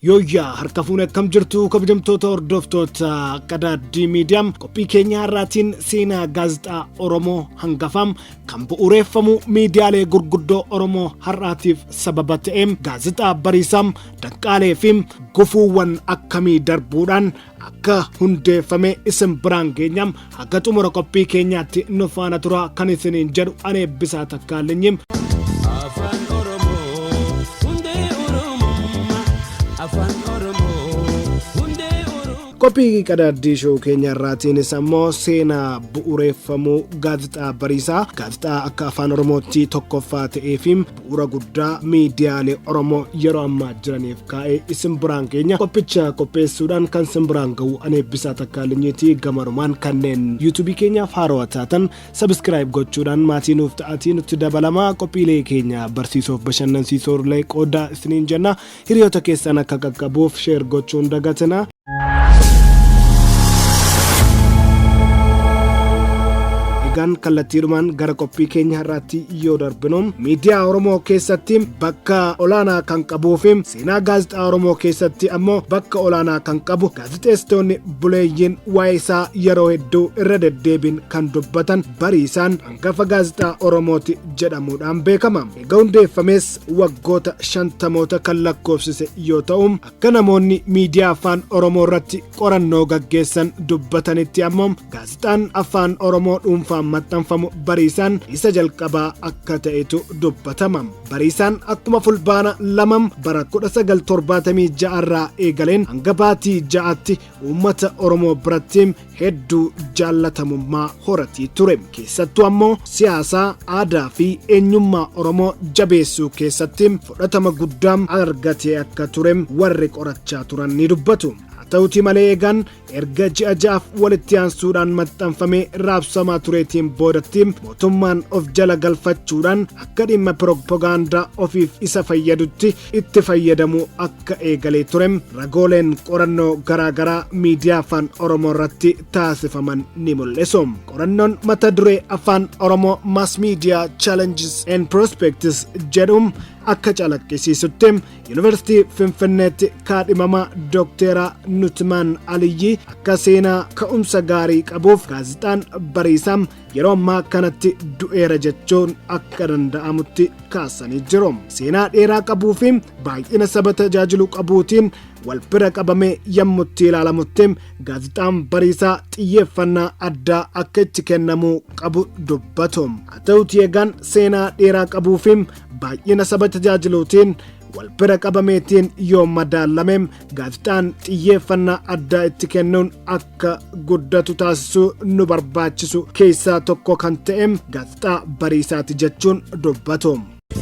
Yooyyaa harka fuune akkam jirtu kabajamtoota hordoftoota qadaaddii miidiyaam qophii keenya har'aatiin seenaa gaazexaa Oromoo hangafaam kan bu'uureeffamu miidiyaalee gurguddoo Oromoo har'aatiif sababa ta'eem gaazexaa bariisaam Danqaalee fi gufuuwwan akkamii darbuudhaan akka hundeeffame isin biraan geenya haga xumura qophii keenyaatti nu faana turaa kan isiniin jedhu ani eebbisaa takkaalinyi. Afaan Oromoo hundee Oromummaa. Afaan Oromoo hundee Oromummaa. Qophii qadaaddii shoo keenya irraatiinis ammoo seenaa bu'ureeffamuu gaazexaa bariisaa gaazexaa akka afaan oromootti tokkoffaa ta'ee fi bu'uura guddaa miidiyaalee Oromoo yeroo ammaa jiraniif kaa'ee isin biraan keenya qophicha qopheessuudhaan kan isin biraan ga'u ani eebbisaa takkaa linyiitii gamarumaan kanneen yuutuubii keenyaaf haarawa taatan sabiskiraayib gochuudhaan maatii nuuf ta'atii nutti dabalamaa qophiilee keenya barsiisoof bashannansiisoo illee qoodaa isiniin jenna hiriyoota keessan akka qaqqabuuf sheer gochuun dagatina. Egaan kallattiidhumaan gara qophii keenya har'aatti yoo darbinu miidiyaa Oromoo keessatti bakka olaanaa kan qabuu fi seenaa gaazexaa Oromoo keessatti ammoo bakka olaanaa kan qabu gaazexeessitoonni buleeyyiin waa'ee isaa yeroo hedduu irra deddeebiin kan dubbatan bariisaan hangafa gaazexaa Oromooti jedhamuudhaan beekama. Egaa hundeeffamees waggoota shantamoota kan lakkoofsise yoo ta'u Akka namoonni miidiyaa afaan Oromoo irratti qorannoo gaggeessan dubbatanitti ammoo gaazexaan afaan Oromoo dhuunfaan maxxanfamu bariisaan isa jalqabaa akka ta'etu dubbatama. Bariisaan akkuma fulbaana lamam bara 1976 irraa eegaleen hanga baatii ja'atti uummata Oromoo biratti hedduu jaallatamummaa horatii ture. Keessattuu ammoo siyaasaa, aadaa fi eenyummaa Oromoo jabeessuu keessatti fudhatama guddaa argatee akka ture warri qorachaa turan ni dubbatu. Haa ta'utii malee eegaan erga ji'a ja'aaf walitti aansuudhaan maxxanfamee raabsamaa tureetiin boodatti mootummaan of jala galfachuudhaan akka dhimma piroopagaandaa ofiif isa fayyadutti itti fayyadamuu akka eegalee ture ragooleen qorannoo garaagaraa miidiyaa afaan oromoo irratti taasifaman ni mul'isu qorannoon mata duree afaan oromoo mass media challenges and prospects jedhu akka calaqqisiisutti yuunivarsiitii finfinneetti kaadhimamaa dookteera nutimaan aliyyii akka seenaa ka'umsa gaarii qabuuf gaazexaan bariisaa yeroo ammaa kanatti du'eera jechuun akka danda'amutti kaasanii jiru. Seenaa dheeraa qabuu fi baay'ina saba tajaajilu qabuutiin wal bira qabamee yammutti ilaalamutti gaazexaan bariisaa xiyyeeffannaa addaa akka itti kennamuu qabu dubbatu. Haa ta'uutii egaan seenaa dheeraa qabuu fi baay'ina saba tajaajiluutiin wal bira qabameetiin yoo madaalame gaazexaan xiyyeeffannaa addaa itti kennuun akka guddatu taasisuu nu barbaachisu keessaa tokko kan ta'e gaazexaa bariisaati jechuun dubbatu.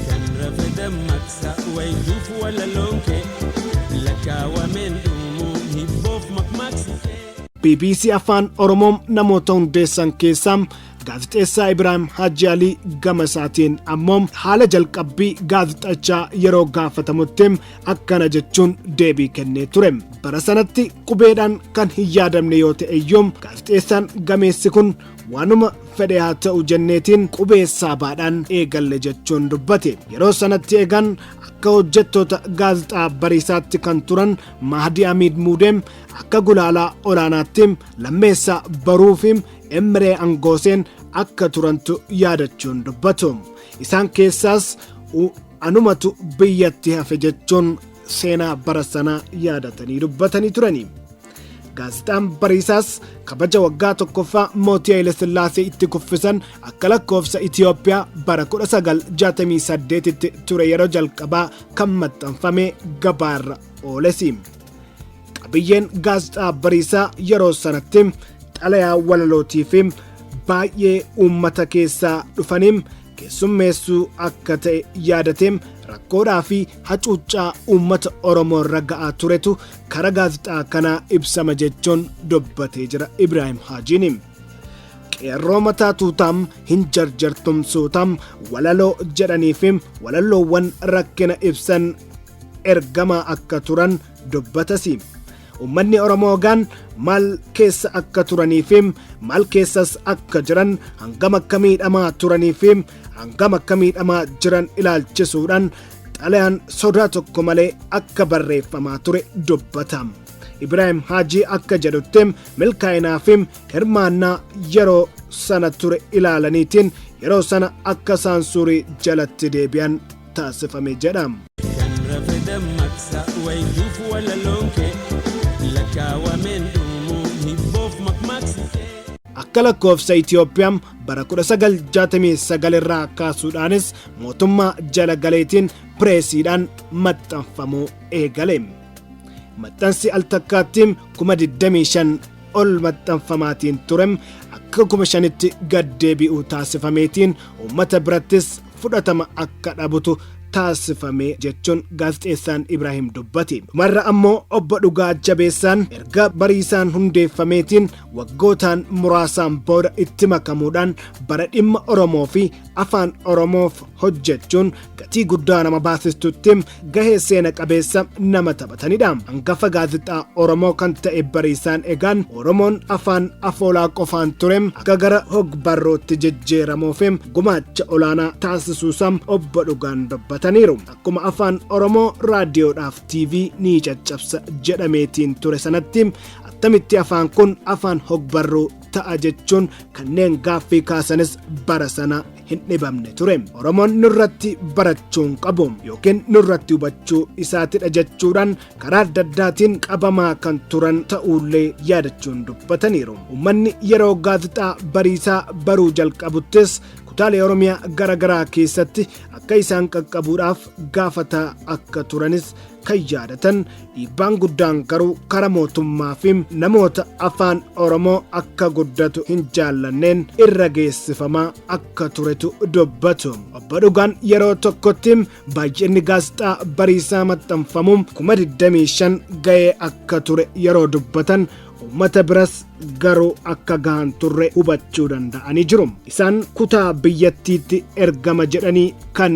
Kan rafe dammaqsa wayituuf walaloo kee lakkaawameen dhumuu hibboof makmaaksi kee. bbc afaan oromoo namoota hundeessan keessaa Gaazexeessaa Ibraahim Haaji Alii gama isaatiin ammoo haala jalqabbii gaazexachaa yeroo gaafatamutti akkana jechuun deebii kennee ture. Bara sanatti qubeedhaan kan hin yaadamne yoo ta'e iyyuu gaazexeessaan gameessi kun waanuma fedhe haa ta'u jenneetiin qubee saabaadhaan eegalle jechuun dubbate. Yeroo sanatti eegan akka hojjettoota gaazexaa bariisaatti kan turan Mahdi Amiid Muudeem akka gulaalaa olaanaatti lammeessaa baruu fi Emree Angooseen akka turantu yaadachuun dubbatu. Isaan keessaas u- anumatu biyyatti hafe jechuun seenaa bara sanaa yaadatanii dubbatanii turani. Gaazexaan Bariisaas kabaja waggaa tokkoffaa mootii Hayilasillaasee itti kuffisan akka lakkoofsa Itiyoophiyaa bara 1968tti ture yeroo jalqabaa kan maxxanfame gabaarra oolesi. qabiyyeen gaazexaa bariisaa yeroo sanatti xalayaa walalootii fi baay'ee uummata keessaa dhufanii keessummeessuu akka ta'e yaadatee rakkoodhaa fi hacuuccaa uummata oromoo irra ga'aa turetu karaa gaazexaa kanaa ibsama jechuun dubbatee jira ibraahim haajiin qeerroo mataa tuutaam hin jarjartumsuutaam walaloo jedhanii fi walaloowwan rakkina ibsan ergamaa akka turan dubbatasi. Ummanni Oromoo gaan maal keessa akka turanii fi maal keessas akka jiran hangam akka miidhamaa turanii fi hangam akka miidhamaa jiran ilaalchisuudhaan xalayaan sodaa tokko malee akka barreeffamaa ture dubbata. Ibraahim Haajii akka jedhutti milkaa'inaa fi hirmaannaa yeroo sana ture ilaalaniitiin yeroo sana akka saansuurii jalatti deebi'an taasifame jedha. Kan rafe dammaqsa wayituuf walaloon kee lakkaawameen dhumu hibboof makmaaksi kee. Akka lakkoofsa Itoophiyaa bara 1969 irraa kaasuudhaanis mootummaa jala galeetiin pireesiidhaan maxxanfamuu eegale. Maxxansi al takkaatti kuma 25 ol maxxanfamaatiin ture akka kuma shanitti gad deebi'u taasifameetiin uummata birattis fudhatama akka dhabutu taasifame jechuun gaazexeessaan Ibraahim dubbate. Dhumarra ammoo obbo Dhugaa Jabeessaan erga bariisaan hundeeffameetiin waggootaan muraasaan booda itti makamuudhaan bara dhimma Oromoo fi afaan Oromoof hojjechuun gatii guddaa nama baasistutti gahee seena qabeessa nama taphatanidha. Hangafa gaazexaa Oromoo kan ta'e bariisaan egaan Oromoon afaan afoolaa qofaan ture akka gara hogbarrootti jijjiiramuuf gumaacha olaanaa taasisuusaa obbo Dhugaan dubbataniiru. Akkuma afaan Oromoo raadiyoodhaaf TV ni caccabsa jedhameetiin ture sanatti attamitti afaan kun afaan hogbarruu ta'a jechuun kanneen gaaffii kaasanis bara sana hin dhibamne ture. Oromoon nurratti barachuu hin qabu yookiin nurratti hubachuu isaatidha jechuudhaan karaa adda addaatiin qabamaa kan turan ta'uullee yaadachuun dubbataniiru. Uummanni yeroo gaazexaa bariisaa baruu jalqabuttis kutaalee Oromiyaa garaagaraa keessatti akka isaan qaqqabuudhaaf gaafataa akka turanis kan yaadatan Dhiibbaan guddaan garuu kara mootummaa fi namoota afaan Oromoo akka guddatu hin jaallanneen irra geessifamaa akka turetu dubbatu. Obbo Dhugaan yeroo tokkotti baay'inni gaazexaa bariisaa maxxanfamu kuma 25 ga'ee akka ture yeroo dubbatan uummata biras garuu akka gahan turre hubachuu danda'anii jiru. Isaan kutaa biyyattiitti ergama jedhanii kan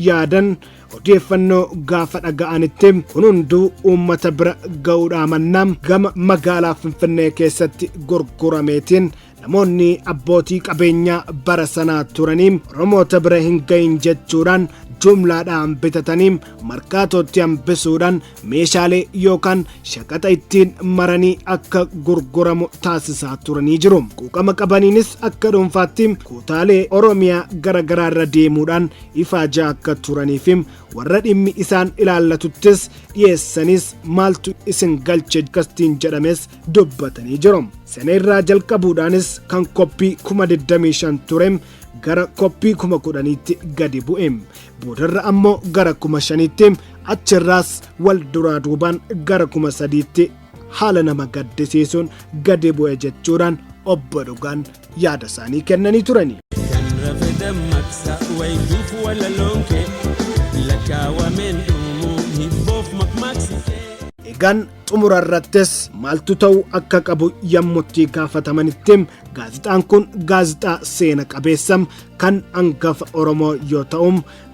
yaadan odeeffannoo gaafa dhaga'anitti kun hunduu uummata bira ga'uudhaa mannaa gama magaalaa Finfinnee keessatti gurgurameetiin namoonni abbootii qabeenyaa bara sanaa turanii Oromoota bira hin ga'in jechuudhaan jumlaadhaan bitatanii markaatootti hambisuudhaan meeshaalee yookaan shaqaxa ittiin maranii akka gurguramu taasisaa turanii jiru. Quuqama qabaniinis akka dhuunfaatti kutaalee Oromiyaa garaagaraa irra deemuudhaan ifaajaa akka turanii fi warra dhimmi isaan ilaallatuttis dhiyeessanis maaltu isin galche kastiin jedhames dubbatanii jiru. Sana irraa jalqabuudhaanis kan koppii kuma 25 ture gara koppii kuma 10tti gadi bu'e. boodarra ammoo gara kuma shaniitti achirraas wal duraa duubaan gara kuma sadiitti haala nama gaddisiisuun gadi bu'e jechuudhaan obbo Dhugaan yaada isaanii kennanii turani. Kan rafe dammaqsa wayituuf walaloon kee lakkaawameen dhumuu hibboof makmaaksi kee. Egaan xumura irrattis maaltu ta'u akka qabu yammutti gaafatamanitti gaazexaan kun gaazexaa seena qabeessa kan angafa Oromoo yoo ta'u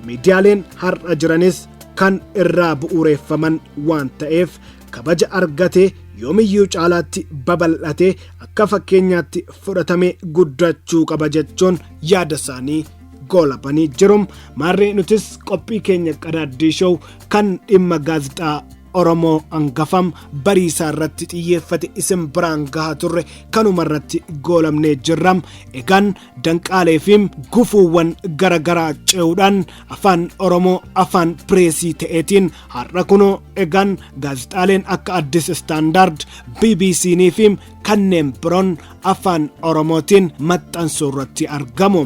miidiyaaleen har'a jiranis kan irraa bu'uureeffaman waan ta'eef kabaja argate yoomiyyuu caalaatti babal'ate akka fakkeenyaatti fudhatame guddachuu qaba jechuun yaada isaanii goolabanii jiru. Maarree nutis qophii keenya qadaaddii show kan dhimma gaazexaa Oromoo angafam bariisaa irratti xiyyeeffate isin biraan gahaa turre kanuma irratti goolabnee jirra. Egaan danqaalee fi gufuuwwan gara garaa ce'uudhaan afaan Oromoo afaan pireesii ta'eetiin har'a kunoo egaan gaazexaaleen akka Addis Standard, BBC'n fi kanneen biroon afaan Oromootiin maxxansuu irratti argamu.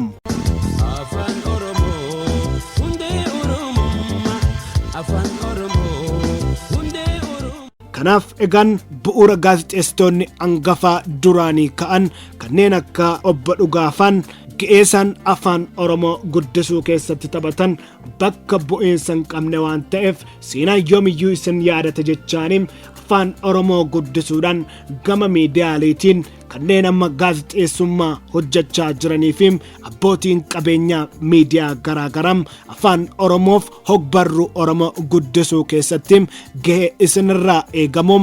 Afaan Oromoo hundee Oromummaa. Afaan Kanaaf egaan bu'uura gaazexeessitoonni angafaa duraanii ka'an kanneen akka obbo Dhugaafaan ga'eesaan afaan Oromoo guddisuu keessatti taphatan bakka bu'iinsa hin qabne waan ta'eef seenaan yoomiyyuu isin yaadata jechaanii afaan Oromoo guddisuudhaan gama miidiyaaleetiin kanneen amma gaazexeessummaa hojjechaa jiranii fi abbootiin qabeenyaa miidiyaa garaagaraa afaan oromoof hogbarruu oromoo guddisuu keessatti gahee isinirraa eegamu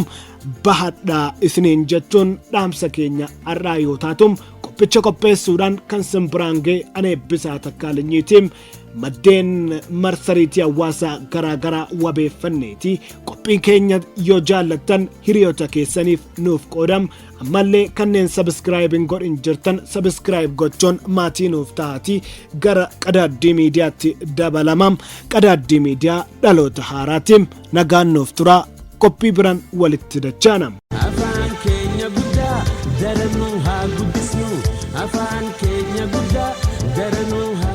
bahadhaa isiniin jechuun dhaamsa keenya har'aa yoo taatu qophicha qopheessuudhaan kan sin biraan ga'e ani Eebbisaa Takkaalinyiiti maddeen marsariitii hawaasaa garaagaraa wabeeffanneeti qophii keenya yoo jaallattan hiriyoota keessaniif nuuf qoodam ammallee kanneen sabiskiraayib hin godhin jirtan sabiskiraayib gochuun maatii nuuf ta'aatii gara qadaaddii miidiyaatti dabalama qadaaddii miidiyaa dhaloota haaraatiin nagaan nuuf turaa qophii biraan walitti dachaana. afaan keenya guddaa daranuu haa guddisnu afaan keenya guddaa daranuu haa